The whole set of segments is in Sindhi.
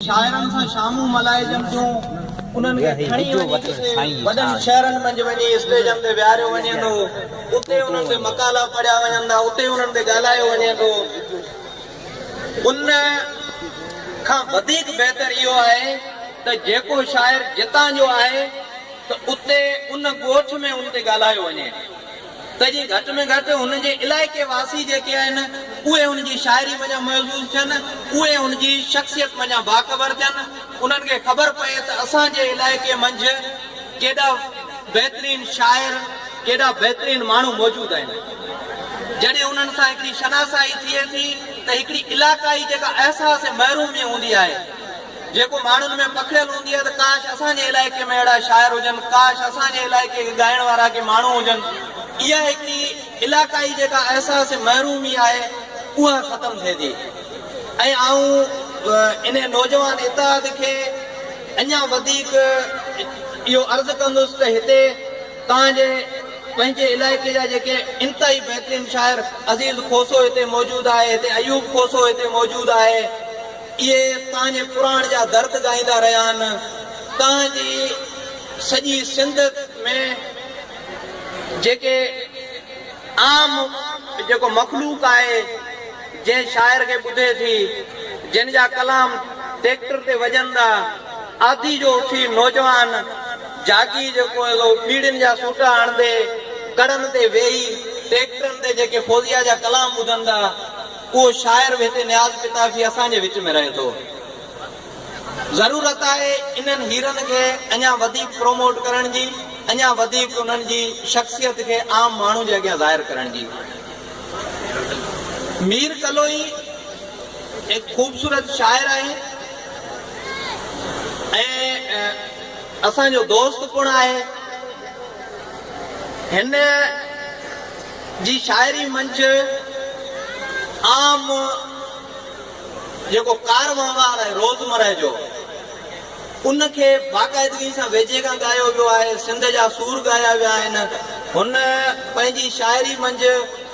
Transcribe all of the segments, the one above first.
شاعرن سان شامون ملهائجن ٿيون، انهن کي کڻي وڃي ڪٿي وڏن شهرن منجهه وڃي اسٽيجن تي ويهاريو وڃي ٿو، اتي انهن تي مقالا پڙهيا وڃن ٿا، اتي انهن تي ڳالهايو وڃي ٿو. ان کان وڌيڪ بهتر اهو آهي ته جيڪو شاعر جتان جو آهي ته اتي ان ڳوٺ ۾ ان تي ڳالهايو وڃي. ته جيئن گهٽ ۾ گهٽ هن جي علائقي واسي جيڪي آهن اهي هن جي شاعري منجهان محظوظ ٿين، اهي هن جي شخصيت منجهان باخبر ٿين، انهن کي خبر پئي ته اسان جي علائقي منجهه ڪيڏا بهترين شاعر، ڪيڏا بهترين ماڻهو موجود آهن. جڏهن انهن سان هڪڙي شناسائي ٿئي ٿي ته هڪڙي علاقائي جيڪا احساس محروميء هوندي آهي، جيڪو ماڻهن ۾ پکڙيل هوندي آهي ته ڪاش اسان جي علائقي ۾ اهڙا شاعر هجن، ڪاش اسان جي علائقي کي ڳائڻ وارا ڪي ماڻهو هجن. اها هڪ ئي علاقائي جيڪا احساس محرومي آهي اها ختم ٿئي ٿي ۽ آئون انهي نوجوان اتحاد کي اڃا وڌيڪ اهو عرض ڪندس ته هتي توهان جي پنهنجي علائقي جا جيڪي انتهائي بهترين شاعر عزيز کوسو هتي موجود آهي، هتي ايوب کوسو هتي موجود آهي، اهي تنهنجي پراڻ جا درد ڳائيندا رهيا آهن، تنهنجي سڄي سنڌ ۾ جيڪي عام جيڪو مخلوق آهي، جنهن شاعر کي ٻڌي ٿي، جن جا ڪلام ٽيڪٽر تي وڄن ٿا، آڌي جو اٿي نوجوان جاڳي جيڪو سو ٻيڙين جا سوٽا هڻندي، ڪڙن تي ويهي ٽيڪٽرن تي جيڪي فوزيه جا ڪلام ٻڌن ٿا، اهو شاعر به هتي نياز پتافي اسان جي وچ ۾ رهي ٿو. ضرورت آهي انهن هيرن کي اڃا وڌيڪ پروموٽ ڪرڻ جي، اڃا وڌيڪ انهن جي شخصيت کي عام ماڻهو جي اڳيان ظاهر ڪرڻ جي. مير ڪلوئي هڪ خوبصورت شاعر آهي ۽ اسان جو دوست پڻ آهي. هن. جي شاعري منجھ عام جيڪو ڪار وهنوار آهي روزمره جو ان کي باقاعدگي سان ويجهي کان ڳايو ويو آهي، سنڌ جا سور ڳايا ويا آهن، هن پنهنجي شاعري منجھ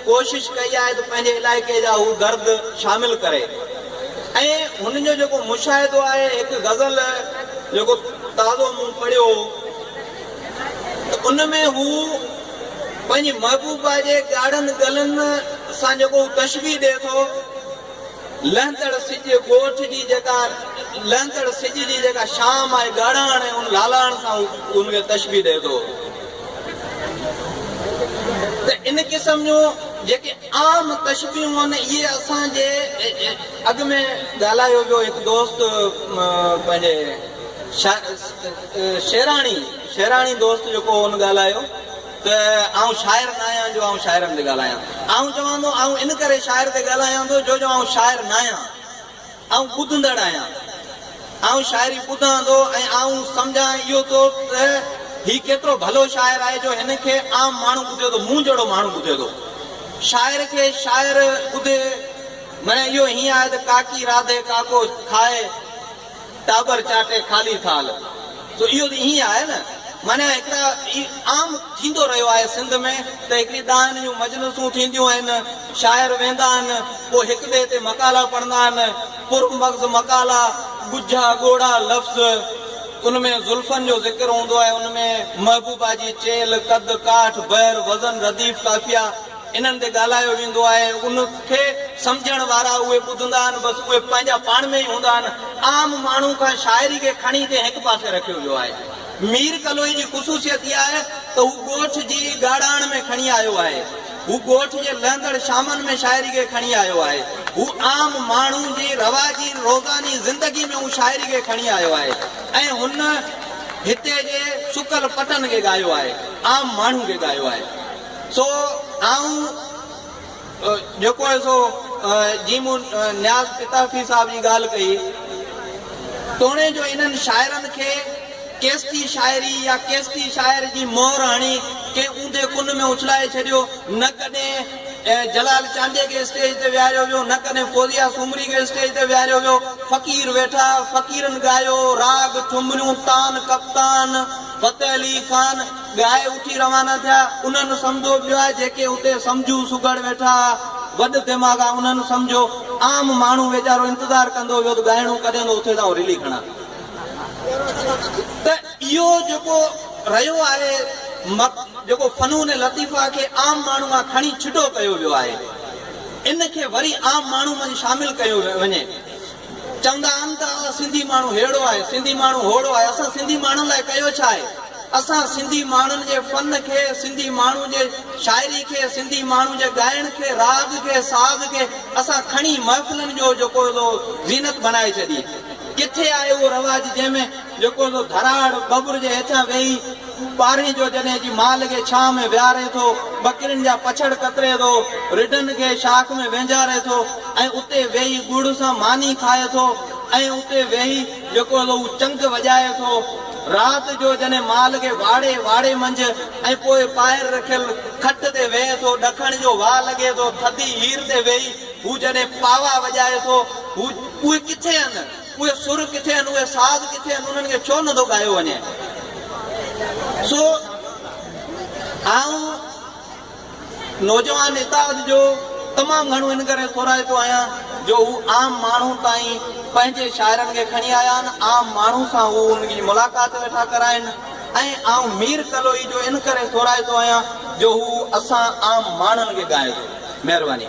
ڪوشش ڪئي آهي ته پنهنجي علائقي جا هو درد شامل ڪري ۽ هن جو جيڪو مشاهدو آهي هڪ غزل جيڪو تازو مون پڙهيو ته ان ۾ هو. پنهنجي محبوبا جي ڳاڙهن ڳلن سان جيڪو هو تشبيهه ڏئي ٿو، لهندڙ سج ڳوٺ جي جيڪا لهندڙ سج جي جيڪا شام آهي ڳاڙهاڻ ۽ ان لالاڻ سان هو ان کي تشبيهه ڏئي ٿو ته ان قسم جون جيڪي عام تشبيهون آهن اهي اسان جي اڳ ۾ ڳالهايو ويو هڪ دوست پنهنجي شا شعراڻي شعراڻي دوست جيڪو هن ڳالهايو ته آئون شاعر ناهيان جو آئون شاعرن تي ڳالهايان. آئون چوان ٿو آئون ان ڪري شاعر تي ڳالهايان ٿو جو جو آئون شاعر ناهيان. آئون ٻڌندڙ آهيان. آئون شاعري ٻڌان ٿو ۽ آئون سمجهان اهو ٿو ته هي ڪيترو ڀلو شاعر آهي جو هن کي عام ماڻهو ٻڌي ٿو مون جهڙو ماڻهو ٻڌي ٿو. شاعر کي شاعر ٻڌي معنيٰ اهو هيئن آهي ته ڪاڪي راڌي ڪاڪو کائي. ٽاٻر چاٽي خالي ٿال سو اهو ته ائين آهي نه معنيٰ هڪ ته هي عام ٿيندو رهيو آهي سنڌ ۾ ته هڪڙي ڏاهن جون مجلسون ٿينديون آهن شاعر ويندا آهن پوء هڪ ٻئي تي مقالا پڙهندا آهن پر مغز مقالا ڳجها ڳوڙها لفظ ان ۾ زلفن جو ذڪر هوندو آهي ان ۾ محبوبا جي چيل قد ڪاٺ بحر وزن رديف قافيه انهن تي ڳالهايو ويندو آهي ۽ ان کي سمجهڻ وارا اهي ٻڌندا آهن بس اهي پنهنجا پاڻ ۾ ئي هوندا آهن. عام ماڻهو کان شاعري کي کڻي تي هڪ پاسي رکيو ويو آهي. مير ڪلوئي جي خصوصيت اها آهي ته هو ڳوٺ جي ڳاڙهاڻ ۾ کڻي آيو آهي. هو ڳوٺ جي لهندڙ شامن ۾ شاعري کي کڻي آيو آهي. هو عام ماڻهو جي رواجي روزاني زندگي ۾ هو شاعري کي کڻي آيو آهي ۽ هن هتي جي سڪل پٽن کي ڳايو آهي. عام ماڻهو کي ڳايو آهي. سو آئون جيڪو آهي سو جي مون نياز پتافي صاحب جي ڳالهه ڪئي توڻي جو انهن شاعرن کي ڪيستي شاعري يا ڪيستي شاعر جي مهر هڻي ڪنهن اونڌي ڪن ۾ اڇلائي ڇڏيو نه ڪڏهن جلال چانڊيي کي اسٽيج تي ويهاريو ويو نه ڪڏهن فوزيه سومري کي اسٽيج تي ويهاريو ويو فقير ويٺا فقيرن ڳايو راڳ ٺمريون تان ڪپتان فتح علي خان ڳائي اٿي روانا ٿيا. انهن سمدو ٻيا جيڪي اتي سمجهو سگهڙ ويٺا ها، وڏ دماغا انهن سمجهو. عام ماڻهو ويچارو انتظار ڪندو ويو ته ڳائڻو ڪڏهن ايندو اٿي تان رلي کڻان. ته اهو جيڪو رهيو آهي مڪ جيڪو فنون لطيفه کي عام ماڻهو مان کڻي ڇڊو ڪيو ويو آهي. ان کي وري عام ماڻهو منجهه شامل ڪيو وڃي. چوندا آھن ته اھا سنڌي ماڻھو ھيڙو آھي، سنڌي ماڻھو ھوڙو آھي، اسان سنڌي ماڻھن لاء ڪيو ڇا آھي؟ اسان سنڌي ماڻھن جي فن کي، سنڌي ماڻھو جي شاعري کي، سنڌي ماڻھو جي ڳائڻ کي، راڳ کي، ساز کي اسان کڻي محفلن جو جيڪو سو زينت بڻائي ڇڏي. ڪٿي آھي اھو رواج جنھن ۾ جيڪو سو ڌراڙ ٻٻر جي ھيٺيان ويھي، ٻارهين جو جڏهن جي مال کي ڇانهه ۾ ويهاري ٿو، ٻڪرين جا پڇڙ ڪتري ٿو، رڍن کي شاخ ۾ وينجهاري ٿو ۽ اتي ويهي ڳڙ سان ماني کائي ٿو ۽ اتي ويهي جيڪو سو هو چنگ وڄائي ٿو. رات جو جڏهن مال کي واڙي واڙي منجهه ۽ پوء ٻاهر رکيل کٽ تي ويهي ٿو، ڏکڻ جو واء لڳي ٿو، ٿڌي هير تي ويهي هو جڏهن پاوا وڄائي ٿو، هو اهي ڪٿي هن؟ اهي سر ڪٿي آهن، اهي ساز ڪٿي آهن، انهن کي ڇو نٿو ڳايو وڃي؟ سو آئون نوجوان اتحاد جو تمام گهڻو ان ڪري سورائتو آهيان جو هو عام ماڻهو تائين پنهنجي شاعرن کي کڻي آيا آهن، عام ماڻهو سان هو ان جي ملاقات ويٺا ڪرائين ۽ آئون مير ڪلوئي جو ان ڪري سورائتو آهيان جو هو اسان عام ماڻهن کي ڳائي ٿو. مهرباني.